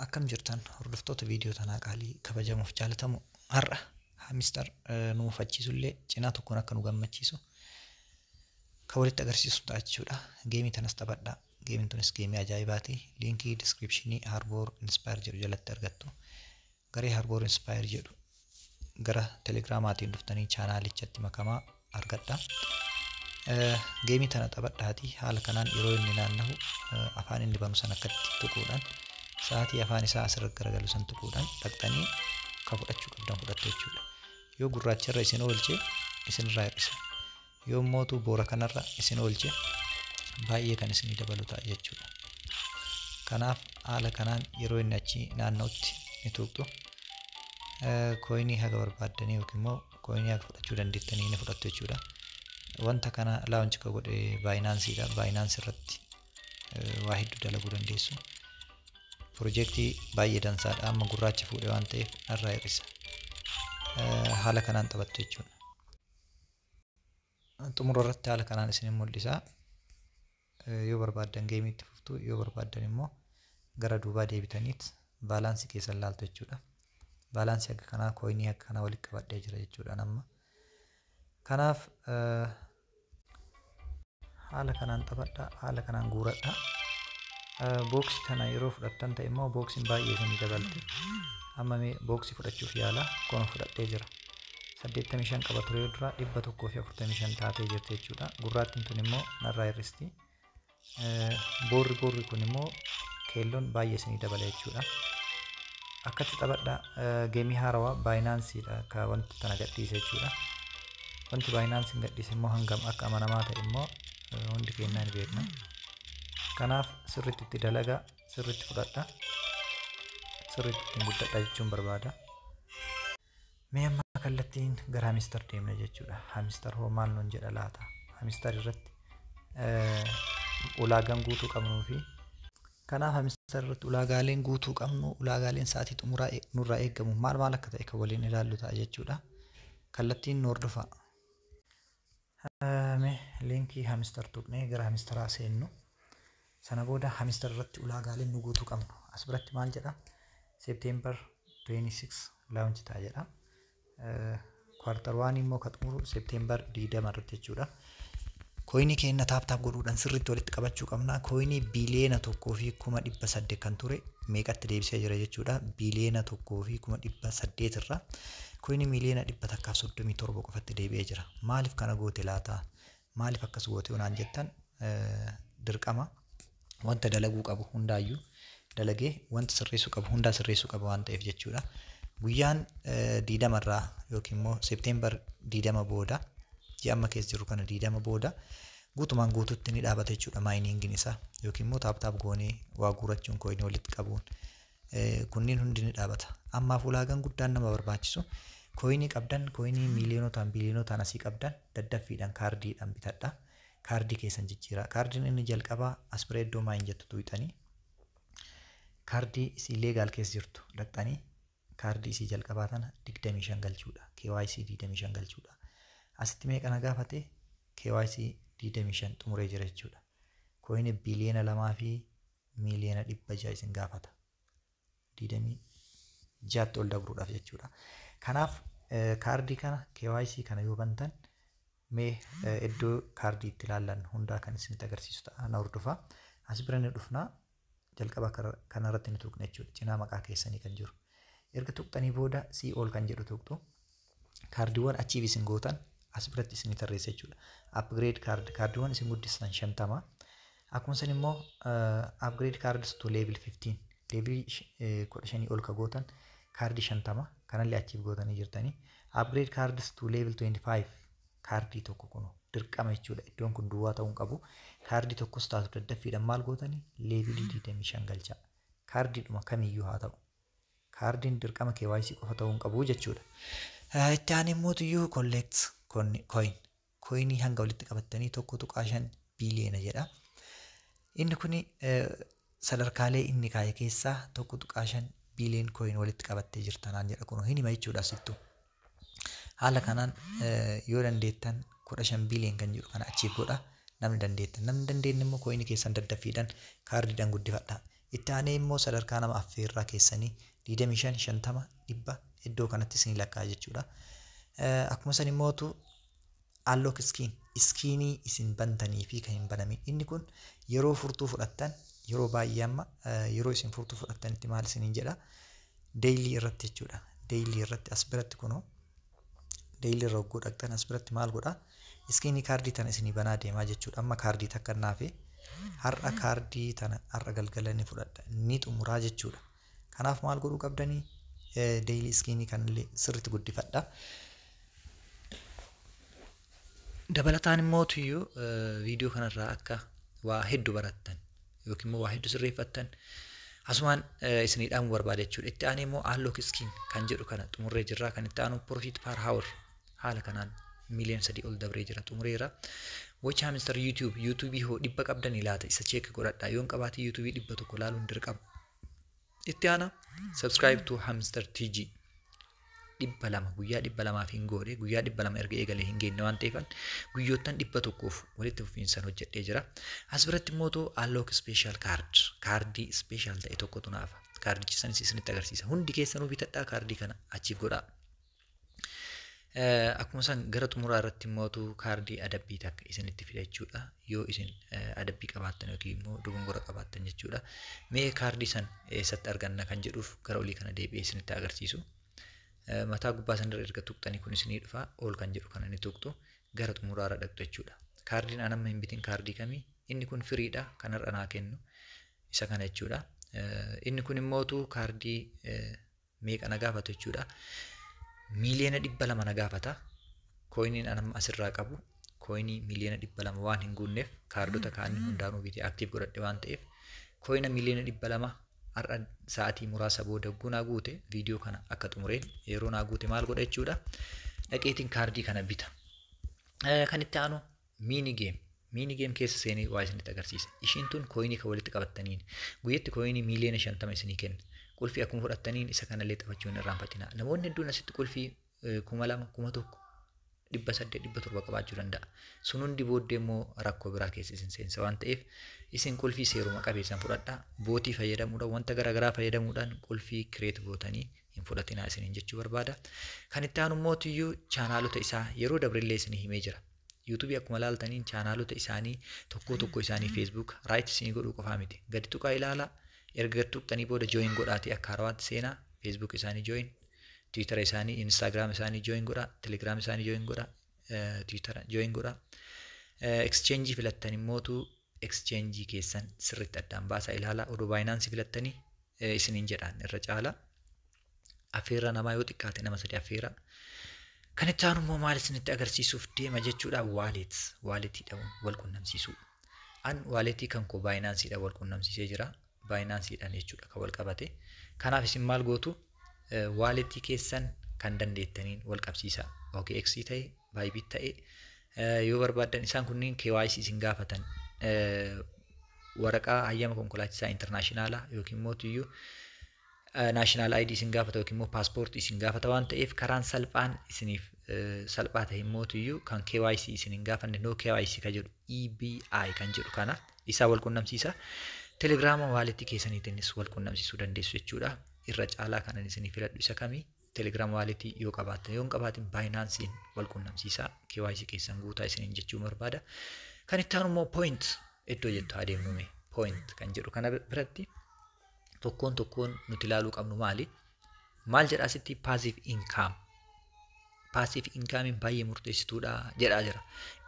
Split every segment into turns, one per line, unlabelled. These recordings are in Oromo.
Akkam jirtan hordoftoota viidiyoo tanaa qaalii kabajamoof jaalatamoo har'a hamistar nu mufachiisu illee cinaa tokkoon akka nu gammachiisu kan walitti agarsiisu ta'a jechuudha. Geemii tanas taphadha. Geemiin tunis geemii ajaa'ibaati. Liinkii diskiripshinii Harboor Inspire jedhu jalatti argattu. Garee Harboor Inspire jedhu gara Telegramaatiin dhuftanii chaanaalichatti makamaa argadha. Eh, Geemii tana taphadhaati haala kanaan yeroo inni naannahu eh, afaan inni banu san akkatti tuquudhaan sa'aatii afaan isaa asirra garagalu san tuquudhaan dhaqxanii kan fudhachuu qabdan fudhattu jechuudha. Yoo gurraacharra isin oolche isinirraa hir'isa. Yoommootu boora kanarra isin oolche baay'ee kan isinii dabalu ta'a jechuudha. Kanaaf haala kanaan yeroo inni achi naanna'utti ni tuqxu. Kooyinii haga barbaaddanii yookiin immoo kooyinii haga fudhachuu dandeettanii ni fudhattu jechuudha. Wanta kana laawunchi ka godhe baayinaansiidha. Baayinaansi irratti waa hedduu dalaguu dandeessu. Pirojektii baay'ee dansaadha. Amma gurraacha fuudhe waan ta'eef narraa hir'isa. Haala kanaan taphattu jechuudha. xumura irratti haala kanaan isinin mul'isa. Yoo barbaaddan geemii itti fuftu, yoo barbaaddan immoo gara duubaa deebitaniit baalaansii keessan laaltu jechuudha. Baalaansii akka kanaa kooyinii akka kanaa walitti qabadhee jira jechuudha amma. Kanaaf haala kanaan taphadha haala kanaan guuradha booksi kana yeroo fudhattan ta'e immoo booksiin baay'ee isinii dabalti amma mee booksii fudhachuuf yaala kono fudhadhee jira 85 qaba ture yoo duraa 145 taatee jirti jechuudha gurraattiin tun immoo narraa hir'isti boorri boorri kun immoo keelloon baay'ee isinii dabala jechuudha. Akkatti taphadha geemii haarawaa baayinaansiidha akka wanti tana gadhiise jechuudha. Wanti baayinaansiin gadhiise immoo hangam akka amanamaa ta'e immoo hundi keenyaa ni beekna. Kanaaf sirriitti itti dalagaa sirriitti fudhadha sirriitti ittiin guddadha jechuun barbaada. Mee amma kallattiin gara hamister deemna jechuudha. Hamister hoo maal nuun jedha laata? Hamister irratti ulaagaan guutuu qabnuu fi kanaaf hamister irratti ulaagaaleen guutuu qabnu ulaagaaleen sa'aatii xumuraa nurraa eegamu maal maal akka ta'e kan waliin ilaallu ta'a jechuudha. Kallattiin nu hordofaa. Mee liinkii hamister tuqnee gara hamisteraa seennu. Sana booda hamister irratti ulaagaaleen nu guutuu qabnu. As biratti maal jedha? September 26 launch ta'a jedha. Kwartar waan immoo kan xumuru September 20 irratti jechuudha. Koyinii keenya taap taap godhuudhaan sirriitti walitti qabachuu qabna. Koyinii biliyeena tokkoo fi kuma dhibba saddeet kan ture meeqatti deebisee jira jechuudha. Biliyeena tokkoo fi kuma dhibba saddeet irraa Coin miliyoona dhibba takkaaf soddomii torba qofatti deebi'ee jira. Maaliif kana goote laata? Maaliif akkas goote yoo naan jettan dirqama wanta dalaguu qabu hundaayyuu dalagee wanta sirreessuu qabu hundaa sirreessuu qaba waan ta'eef jechuudha. Guyyaan diidama irraa yookiin immoo seepteembar diidama booda ji'a amma keessa jirru kana diidama booda guutumaan guututti ni dhaabata jechuudha maayiniingiin isaa yookiin immoo taaptaap goonee waa guurachuun kooyinii walitti qabuun kunniin hundi ni dhaabata. Ammaaf ulaagaan guddaan nama barbaachisu kooyinii qabdan kooyinii miiliyonotaan biiliyonotaan asii qabdan daddaffiidhaan kaardiidhaan bitadha. Kaardii keessan jijjiiraa. Kaardiin inni jalqabaa aspiree iddoo maayin jettu tuqxanii kaardii isii leegaal keessa jirtu dhaqxanii kaardii isii jalqabaa tana 25 galchuudha. KYC 25 galchuudha. Asitti meeqa na gaafate KYC 25 xumuree jira jechuudha. Kooyinii biiliyoona lamaa fi miiliyoona dhibba ja'a isin gaafata. Digdamii ja'atti ol dabruudhaaf jechuudha. Kanaaf kaardii kana KYC kana yoo bantan mee iddoo kaardii itti ilaallan hundaa kan isinitti agarsiisu ta'a na hordofaa. As bira ni dhufna jalqaba kanarratti ni tuqna jechuudha. Cinaa maqaa keessanii kan jiru. Erga tuqxanii booda sii ol kan jedhu tuqxu. Kaardiiwwan achieve isin gootan as biratti isinii tarreessa jechuudha. Upgrade card kaardiiwwan isin guddistan 50. Akkuma san immoo uh, upgrade cards to level 15 level 15 ol ka gootan kaardii 50 kanallee achieve gootanii jirtanii. Upgrade cards to level 25 kaardii tokko kunu dirqama jechuudha. Iddoon kun duwwaa ta'uu hin qabu. Kaardii tokkos taatu daddaffiidhaan maal gootanii leevilii 25 galchaa. Kaardiidhuma kamiyyuu haa ta'u. Kaardiin dirqama kyc qofa ta'uu hin qabu jechuudha. Itti aanee immoo tuyyuu collect coin koyinii hanga walitti qabattanii 1.5 biiliyoona jedha. Inni kun sadarkaalee inni kaa'e keessaa 1.5 biiliyoon koyin walitti qabattee jirta naan jedha kunoo hin hima jechuudha asittu. Haala kanaan yoo dandeettan 15 billion kan jedhu kana achieve godha namni dandeettan namni dandeenye immoo coin keessan daddaffiidhan kaardiidhan guddifadha itti aanee immoo sadarkaa nama affeerraa keessanii 25 50 dhibba iddoo kanatti isinii lakkaa jechuudha akkuma san immootu Unlock skin, iskiinii isin bantanii fi kan hin banamin. Inni kun yeroo furtuu fudhattan yeroo baay'ee amma yeroo isin furtuu fudhattanitti maal isiniin jedha deeylii irratti jechuudha. Deeylii irratti as biratti kunoo deeylii irra hogguu dhaqxan as biratti maal godha iskiinii kaardii tana isinii banaa deemaa jechuudha. Amma kaardii takka naafe har'a kaardii tana har'a galgala ni fudhadha ni xumuraa jechuudha. Kanaaf maal godhuu qabdanii? Deeyilii iskiinii kanallee sirriitti guddifadha. Dabalataan immoo tuyyuu viidiyoo kanarraa akka waa hedduu barattan yookiin immoo waa hedduu sirreeffattan asumaan isinii dhaamuu barbaada jechuudha. Itti aanee immoo aanlook iskiin kan jedhu kana xumurree jirraa kan itti aanu piroofiit paar haawur Haala kanaan miiliyoon sadii ol dabree jira xumureera. Watch Hamster YouTube YouTube hoo dhibba qabdanii laata isa check godhadhaa yoon qabaate YouTube dhibba tokko laaluun dirqama. Itti aana subscribe to Hamster TG dhibba lama guyyaa dhibba lamaaf hin goone guyyaa dhibba lama erga eegalee hin geenne waan ta'eefan guyyoottan dhibba tokkoof walitti fufiinsan hojjedhee jira. As biratti immoo too unlock special card kaardii special ta'e tokkotu naafa kaardichi sanis isinitti agarsiisa hundi keessanuu bitadhaa kaardii kana achiif godhaa. Akkuma san gara xumuraa irratti immootu kaardii adabbii takka isinitti fida jechuudha. Yoo isin adabbii qabaattan yookiin immoo dogongora qabaattan jechuudha. Mee kaardii san eessatti arganna kan jedhuuf gara olii kana deebi'ee isinitti agarsiisu. Mataa gubbaa sanirra erga tuqxanii kun isinii dhufa ol kan jedhu kana ni tuqxu gara xumuraa irra dhaqxu jechuudha. Kaardiin an amma hin bitin kaardii kamii inni kun firiidha kan har'a naa kennu isa kana jechuudha. Inni kun immootu kaardii meeqa na gaafatu jechuudha. Miiliyoona dhibba lama na gaafata. Kooyiniin anamma asirraa qabu kooyinii miiliyoona dhibba lama waan hin guunneef kaardota kaanii hundaanuu bitee aktiif godhadhe waan ta'eef kooyina miiliyoona dhibba lama har'a sa'aatii muraasa booda hogguu naa guute viidiyoo kana akka xumureen yeroo naa guute maal godha jechuudha. Dhaqeetiin kaardii kana bita. Kan itti aanu Miini geem. Miini geem keessa seenee waa isinitti agarsiisa. Ishiin tun kooyinii kan walitti qabattaniin. Guyyatti kooyinii miiliyoona shantama isinii kenna. Qulfii akkuma fudhattaniin isa kanallee taphachuu hin irraanfatina. Namoonni hedduun asitti qulfii kuma lama, kuma tokko, dhibba saddeet, dhibba torba qabaachuu danda'a. Sun hundi booddee immoo rakkoo biraa keessa isin seensa waan ta'eef isin qulfii seeruma qabeessan fudhadhaa. Bootii fayyadamuudhaan wanta garaagaraa fayyadamuudhaan qulfii kireet gootanii hin fudhatinaa isiniin jechuu barbaada. Kan itti aanu immoo tuyyuu chaanaalota isaa yeroo dabrillee isinii himee jira. Yuutuubii akkuma laaltaniin chaanaalota isaanii tokkoo tokkoo isaanii feesbuuk raayit isinii godhuu qofaa miti. Gadi tuqaa ilaalaa erga gad tuqxanii booda jooyin godhaatii akka harawaatti seenaa feesbuuk isaanii jooyin tiwiitara isaanii inistaagiraam isaanii jooyin godhaa telegiraam isaanii jooyin godhaa tiwiitara jooyin godhaa. Ekscheenjii filattan immootu exchange keessan sirriitti addaan baasaa ilaalaa odoo baayinaansii filattanii isiniin jedhaan irra caala affeerraa namaa yoo xiqqaate nama sadii affeera kan itti aanu immoo maal isinitti agarsiisuuf deema jechuudha waaleet waaleetiidhaan wal qunnamsiisuu an waaleetii kan koo baayinaansiidhaan wal qunnamsiisee jira baayinaansiidhaan jechuudha kan wal qabate. Kanaaf isin maal gootu waaletii keessan kan dandeettaniin wal qabsiisaa. OKX ta'e, Bybit ta'e yoo barbaaddan isaan kunniin KYC isin gaafatan waraqaa hayyama konkolaachisaa intarnaashinaalaa yookiin mootiyyuu national ID isin gaafata yookiin immoo paaspoortii isin gaafata waan ta'eef karaan salphaan isiniif salphaa ta'e immoo tuyyuu kan KYC isin hin gaafanne no KYC kan jedhu EBI kan jedhu kana isaa wal qunnamsiisa. Telegiraama waaleetti keessaniitiinis wal qunnamsiisuu dandeessu jechuudha. Irra caalaa kanan isinii filadhu isa kami Telegram waaleetii yoo qabaattan yoo hin qabaatin baayinaansiin wal qunnamsiisaa KYC keessan guutaa isiniin jechuu barbaada. Kan itti aanu immoo point iddoo jettu adeemnume point kan jedhu kana biratti tokkoon tokkoon nuti ilaaluu qabnu maali? Maal jedhaa sitti paasiif inkaam? Paasiif inkaamiin baay'ee murteessituudha jedhaa jira.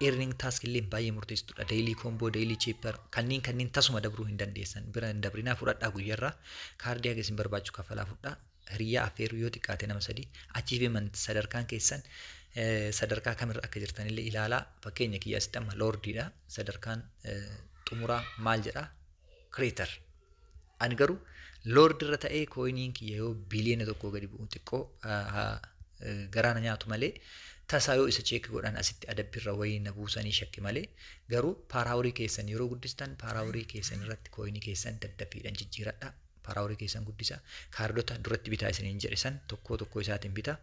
Earning task illee baay'ee murteessituudha. Daily combo, daily chipper kanneen kanneen tasuma dabruu hin dandeessan. Bira hin dabrinaa fudhadhaa guyyarraa kaardii haga isin barbaachisu kaffalaa fudhaa. Hiriyyaa affeeruu yoo xiqqaate nama sadii. Achievement sadarkaan keessan sadarkaa kamirra akka jirtanillee ilaalaa. Fakkeenya kiyya asitti amma loordiidha. Sadarkaan xumuraa maal jedhaa? Creator. Ani garuu loordi irra ta'ee kooyiniin kiyya yoo biliyoona tokkoo gadi bu'u xiqqoo garaa na nyaatu malee tasaa yoo isa cheekki godhan asitti adabbi irra wayii na buusanii shakke malee garuu paaraaworii keessan yeroo guddistan paaraaworii keessan irratti kooyinii keessan daddaffiidhaan jijjiiradha paaraaworii keessan guddisa kaardota duratti bitaa isiniin jedhe san tokkoo tokkoo isaatiin bita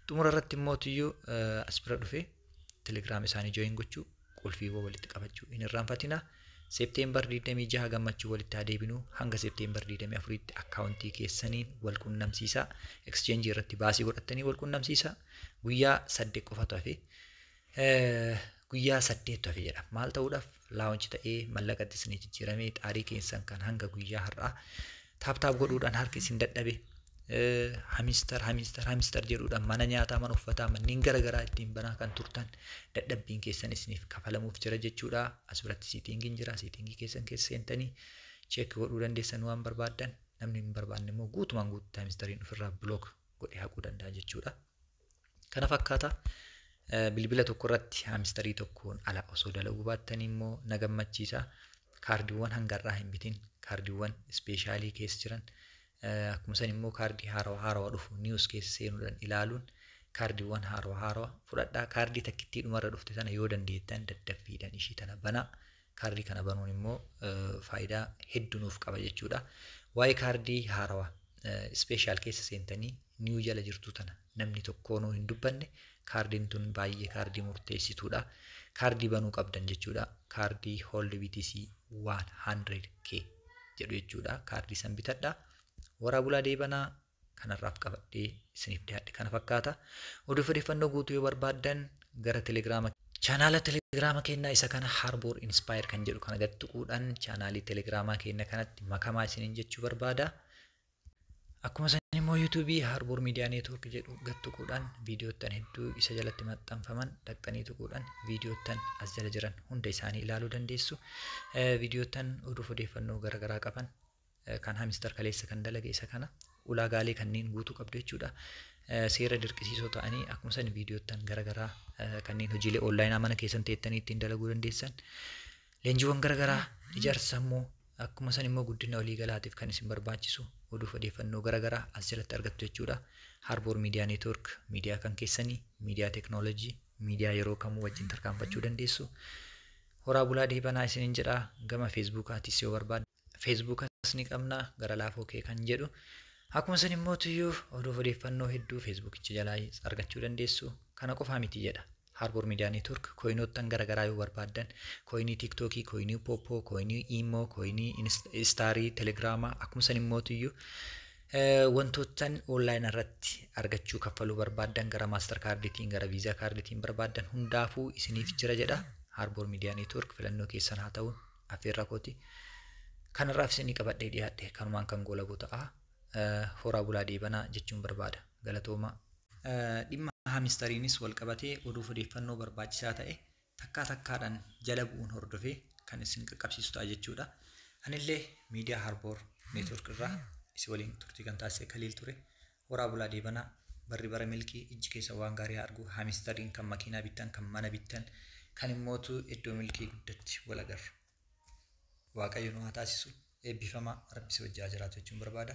xumura irratti immoo tiyyuu asbira dhufe telegiraam isaanii jooyin gochuu qulfiiwwan walitti qabachuu hin irraanfatina. Septeembar 26 gammachuu walitti haa deebinu hanga Septeembar 24tti akkaawuntii keessaniin wal qunnamsiisaa. Exchange irratti baasii godhattanii wal qunnamsiisaa. Guyyaa saddeet qofatu hafe. Guyyaa saddeettu hafe jedha. Maal ta'uudhaaf laawunchi ta'ee mallaqatti isinii jijjiiramee xaarii keessan kan hanga guyyaa har'aa taaptaap godhuudhaan harki isin dadhabe hamister hamister hamister jedhuudhaan mana nyaataa mana uffataa manneen garaagaraa ittiin banaa kan turtan dadhabbiin keessan isiniif kafalamuuf jira jechuudha as biratti siitingiin jira siitingii keessan keessa seentanii cheekki godhuu dandeessan waan barbaaddan namni hin barbaanne immoo guutumaan guututti hamistariin ofirraa bilook godhee haquu danda'a jechuudha. Kana fakkaata bilbila tokko irratti haamistarii tokkoon ala osoo dalaguu baattanii immoo na gammachiisa. Kaardiiwwan hanga irraa hin bitin kaardiiwwan ispeeshaalii keessa jiran akkuma san immoo kaardii haarawa haarawa dhufu niwus keessa seenuudhaan ilaaluun kaardiiwwan haarawa haarawa fudhadhaa kaardii takkittii dhumarra dhufte sana yoo dandeettan daddaffiidhaan ishii tana banaa Kaardii kana banuun immoo faayidaa hedduu nuuf qaba jechuudha. Waa'ee kaardii haarawaa ispeeshaal keessa seentanii niiw jala jirtu tana namni tokkoonuu hin dubbanne kaardiin tun baay'ee kaardii murteessituudha. Kaardii banuu qabdan jechuudha. Kaardii Hold BTC 100K jedhu jechuudha. Kaardii san bitadha. Waraa bulaa deebanaa kan har'aaf qabadhee isiniif dhiyaadhe kana fakkaata. Oduuf odeeffannoo guutuu yoo barbaaddan gara Telegiraama Chaanaala Telegiraama keenyaa isa kana Harbour Inspire kan jedhu kana gad tuquudhaan chaanaalii Telegiraamaa keenya kanatti makamaa isiniin jechuu barbaada. Akkuma san immoo YouTube Harbour Media Network jedhu gad tuquudhaan viidiyoottan hedduu isa jalatti maxxanfaman dhaqxanii tuquudhaan viidiyoottan as jala jiran hunda isaanii ilaaluu dandeessu. Viidiyoottan oduuf odeeffannoo garaagaraa qaban Kan hamister kaleessa kan dalage isa kana ulaagaalee kanneen guutuu qabdu jechuudha. Seera dirqisiisoo ta'anii akkuma san viidiyoottan garaagaraa kanneen hojiilee onlaayinaa mana keessan teettanii ittiin dalaguu dandeessan. Leenjiiwwan garaagaraa ijaarsa sammuu akkuma san immoo guddina waliigalaatiif kan isin barbaachisu oduuf odeeffannoo garaagaraa as jalatti argattu jechuudha. Harboor Miidiyaa Neetwoork miidiyaa kan keessanii, miidiyaa teeknooloojii, miidiyaa yeroo kamuu wajjin tarkaanfachuu dandeessu. Horaa bulaa deebanaa isinin jedhaa gama feesbuukaatis yoo barbaaddan. feesbuukas ni qabna gara laafoo kee kan jedhu akkuma san immoo tuyyuu oduuf odeeffannoo hedduu feesbuukicha jalaa argachuu dandeessu kana qofaa miti jedha Harbour Media Network kooyinoottan gara garaa yoo barbaaddan kooyinii tiiktookii kooyinii poopoo kooyinii iimoo kooyinii istaarii telegiraamaa akkuma san immoo tuyyuu wantoottan onlaayin irratti argachuu kaffaluu barbaaddan gara maastar kaarditiin gara viizaa kaarditiin barbaaddan hundaafuu isiniif jira jedha Harbour Media Network filannoo keessan haa ta'u affeerraa kooti. Kanarraaf isinii qabadhee dhiyaadhe kanumaan kan goolabu ta'a. Horaa bulaa deebanaa jechuun barbaada. Galatoomaa. Dhimma haamistariinis walqabatee oduuf odeeffannoo barbaachisaa ta'e takkaa takkaadhaan jala bu'uun hordofee kan isin qaqqabsiisu ta'a jechuudha. Anillee miidiyaa Harboor Neetwork irraa isin waliin turtii kan taasise Kaliil ture. Horaa bulaa deebanaa barri bara milkii ijji keessan waan gaarii haa argu hamistariin kan makiinaa bittan kan mana bittan kan immootu iddoo milkii guddatti wal agarru waaqayyo nu haa taasisu eebbifamaa rabbi si wajji haa jiraatu jechuun barbaada.